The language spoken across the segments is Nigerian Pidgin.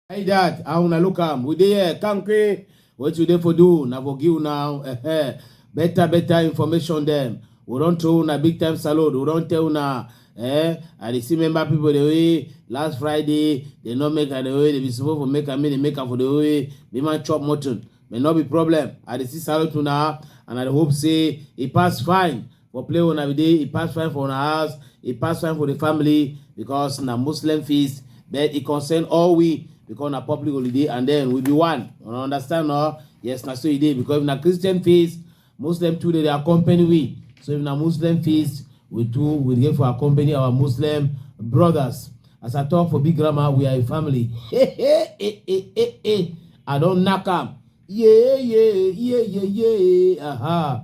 Hey dad, I wanna look am. We there, Kanke. What you there for do? Na for give now. Eh, eh. better, better information them. We don't tell una big time salute. We don't tell una. Eh, I dey see member people the way last Friday they not make am the way they be supposed to make am, they make am for the way. They man chop mutton. may not be problem i dey see salute una and i dey hope say e pass fine for play una we dey e pass fine for una house e pass fine for the family because na muslim feast but e concern all we because na public holiday and then we be one una understand no yes na so e dey because if na christian feast Muslim too dey accompany we. So if na Muslim feast, we too we dey for accompany our Muslim brothers. As I talk for big grammar, we are a family. Hey, hey, hey, hey, hey, hey. I don't knock am. Yeah, yeah, yeah, yeah, yeah. Aha.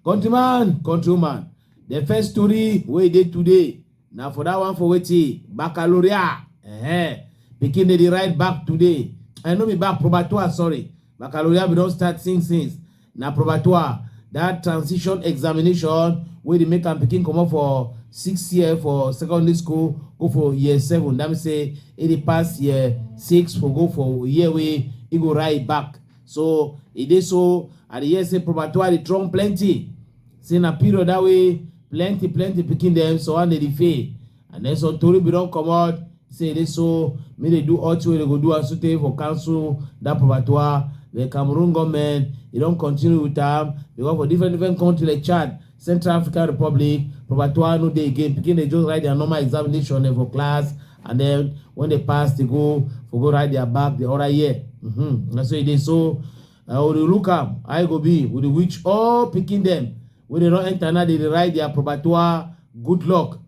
Countryman, countryman. The first story wey dey today na for that one for wetin baccalaureate uh-huh. pikin dey dey ride back today i no be back probatoire sorry baccalaureate we don start since since na probatoire that transition examination wey dey make am pikin comot for six year for secondary school go for year seven that mean say e dey pass year six for go for year wey e go ride back so e dey so i dey hear say probatua dey throw plenty say na period that way plenty plenty pikin dem so one dey dey fail and then some tori bin don comot say e dey so make dey do all thing wey dey go do am sotey for cancel that probatua the cameroon goment e don continue with am because for different different country like chad Central African Republic, Proper Toa no dey again. Pikin dey just write their normal examination eh, for class and then when they pass, they go for go write their back the other year. Mm-hmm. That's what they so uh, we look up, I go be with which all picking them. When they don't enter now, they write their Proper Toa good luck.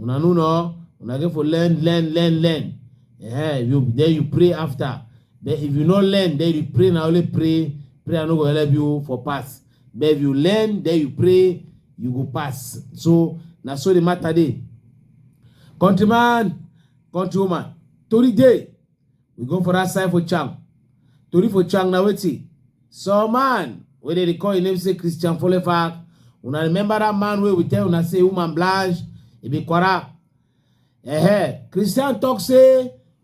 Una no no, una get for learn, learn, learn, learn. Yeah, you then you pray after. Then if you not learn, then you pray now only pray. Pray I no go help you for pass. but if you learn then you pray you go pass so na so the matter dey countryman countrywoman tori dey we go for that side for chang tori for chang na wetin some man wey dey call him name say christian folefak una remember that man wey we tell una say woman blanche e be kwara eh christian talk say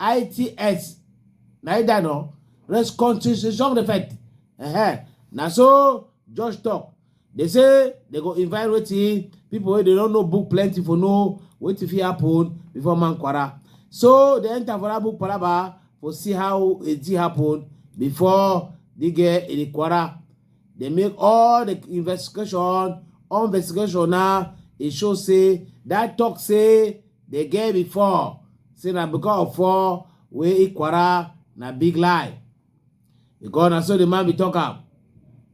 ITS. Na it that no? Reconciliation effect. Uh-huh. Na so Josh talk. They say they go invite wetin people wey dey no know book plenty for know wetin fit happen before man kwara. So they enter for that book palaba for see how it e happen before they get in the kwara. They make all the investigation, all investigation now. It show say that talk say The girl before say na because of four wey Ikwara na big lie. Because na so the man be talk am.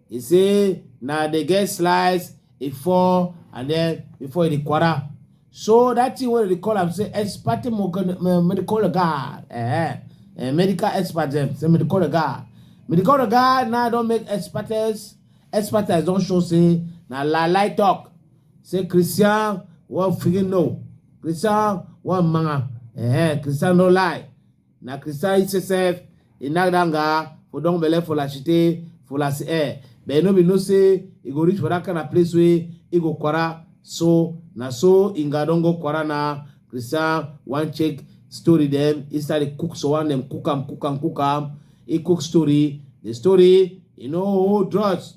He say na the girl slice e fall and then before e dey Ikwara. So that thing wey dey call am say expert medical regard, eh, eh, medical expert dem say medical regard. Medical regard now don make expertise expertise don show say na lie lie talk. Se Christian wan figi no, Christian wan manga. Eh, Christian no lie. Na Christian itself, he knock down guy for don belle for la chite, for la eh. But no be no say he go reach for that kind of place where he go kwara. So na so inga don go kwara na Christian wan check story them. He start dey cook so one them cook am, cook am, cook am. He cook story. The story, you know, hold drugs.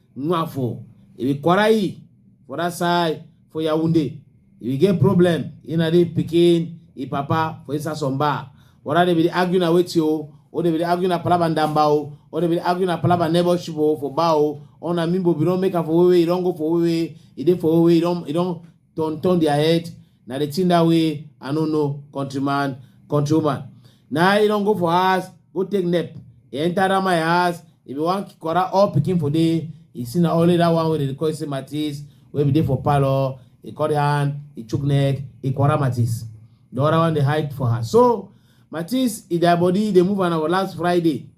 Nwa for e be Kwarai for that side for Yaoundé. If you get problem, you know the pikin, e papa for inside some bar. Whether they be dey argue na wetin o, or they be dey argue na palava ndamba o, or they be dey argue na palava neighborship o for bar o, or na mimbo be don make am for wewe, e don go for wewe, e dey for wewe, e don e don turn turn their head. Na the thing that way I no know countryman, countrywoman. Now he don't go for house, go take nap. He enter that my house, if you want quarter all picking for day, he see na only that one where they call say Matisse, where be there for palo, he cut hand, he chook neck, he quarter Matisse. The other one they hide for her. So Matisse, if their body they move on our last Friday.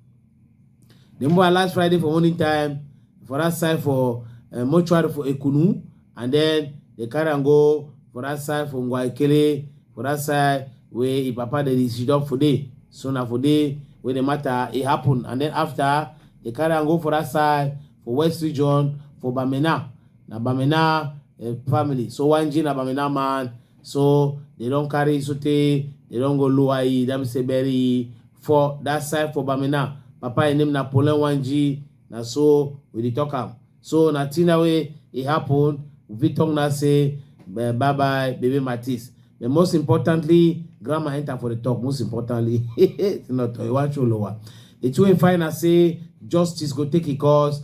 Then boy last Friday for morning time for that side for uh, mortuary for Ekunu, and then they carry and go for that side for Ngwaikele, for that side where he papa they sit up for day. So now for day where the matter it happened, and then after they carry and go for that side for West Region for Bamena. Now Bamena uh, family. So one G na Bamena man. so they don carry sotey they don go lower e that mean say bury e for that side for bamina papa im name na polen wanji na so we dey talk am so na thing na wey e happen we fit talk now say bye bye baby matis but most importantly grandma enter for the talk most importantly senator iwachu olowa the two im find na say justice go take e course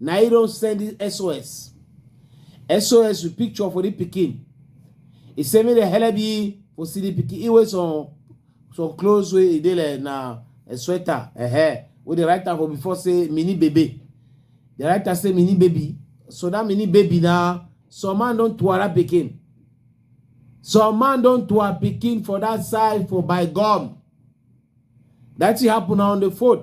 na he don send this sos sos with picture for the pikin he say make dem help ye for see the pikin he wear some some clothes wey e dey like na a sweater a hair wey dey write am for before say mini baby dey write am say mini baby so that mini baby na some man don tuara pikin some man don tuar pikin for that side for by gum that thing happen na on the fourth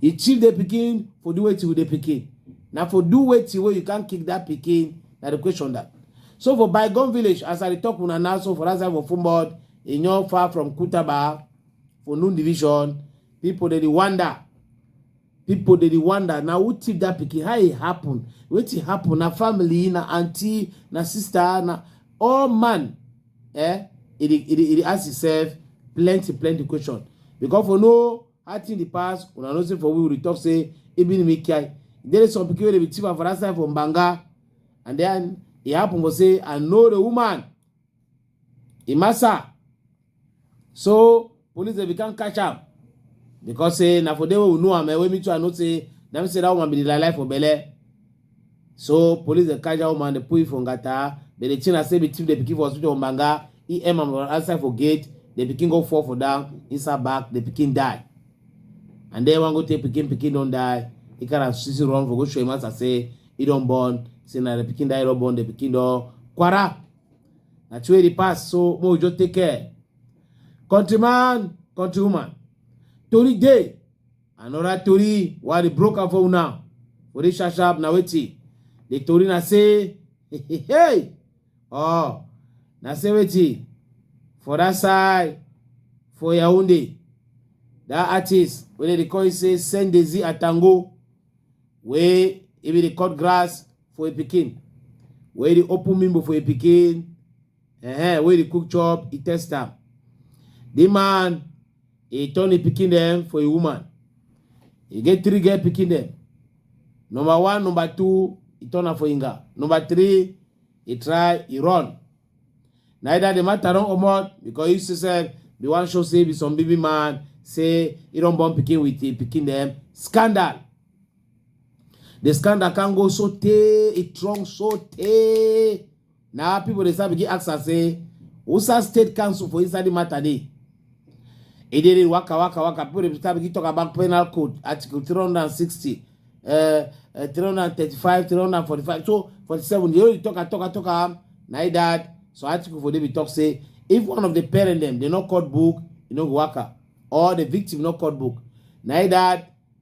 He chief the pikin for do wetin with the pikin. Now for do wetin where you can't kick that pikin. Now the question that. So for Bygone Village, as I talk una now, so for that side for Fumod, in your far from Kutaba, for Noon Division, people they wonder. People they wonder. Now who tip that pikin? How it happen? What it happen? Na family, na auntie, na sister, na all man eh e dey e dey e dey ask himself plenty plenty question because for no how thing dey pass una know say for we we dey talk say even me kai there is some pikin wey dey be thief for that side for mbanga and then e happen for say i know the woman imasa so police dey become catch am because say na for there wey we know am eh, wey me too i know say na me say that woman be the lie for belle so police dey catch that woman dey put it for ngata but the thing na say be thief dey pikin for hospital for mbanga e aim am outside for gate the pikin go fall for down inside back the pikin die and then one go take pikin pikin don die he carry am sisi run for go show him master say he don born say na the pikin die he don born the pikin don kwara na true e dey pass so make we just take care countryman countrywoman tori dey another tori wey i dey broke am for una for this sharp sharp na wetin the tori na say hey oh na say wetin for that side for yaounde that artist wey dem dey call say sendezi atango wey if you dey cut grass for a pikin wey dey open mimbo for a pikin uh-huh, wey dey cook chop e test am the man e turn e pikin dem for a woman e get three girl pikin dem number one number two e turn am for inga number three e try e run Neither the matter don comot because you yourself be wan show say be some baby man say he don born pikin with him pikin dem scandal. The scandal can go so tey e strong so tey na people dey start begin ask am say Usa State Council for inside the matter dey. It didn't waka waka waka. People dey start begin talk about penal code, article 360, uh, uh, 335, 345, so 47. They only talk and talk and talk am. Na it that. So article for David talk say if one of the parent them they not caught book, you know waka. Or the victim not caught book. Na it that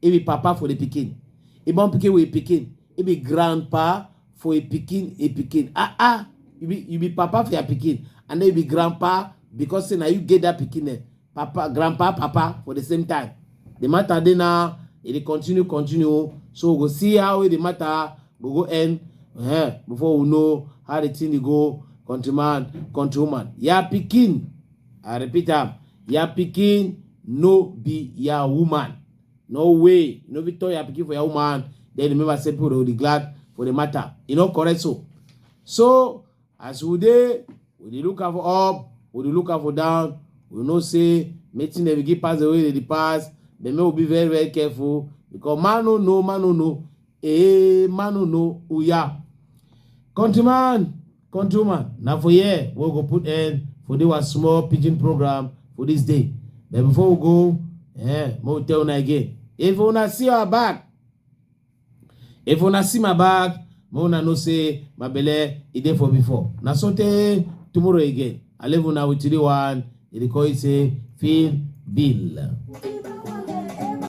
He be papa for the pikin. He born pikin with pikin. He be grandpa for a pikin, a pikin. Ah ah, you be you be papa for your pikin, and then you be grandpa because say now you get that pikin there. Papa, grandpa, papa for the same time. The matter dey now, it dey continue, continue. So we go see how the matter go go end uh, before we know how the thing dey go. Countryman, countrywoman, yeah, pikin. I repeat am. ya pikin no be ya woman no way no be turn ya pikin for ya woman then remember say people dey glad for the matter e no correct so so as we dey we dey look am for up we dey look am for down we know say mating dey begin pass the way dey dey pass but make we be very very careful because man no know man no know eh man no know oya countryman Countryman, now for here, we go put end for this one small pidgin program for this day. But before we go, eh, mo tell una again. If una see our back, if una see my back, mo una know say my belle e dey for before. Na so tey tomorrow again. I leave una with three one. E dey call it say feel bill.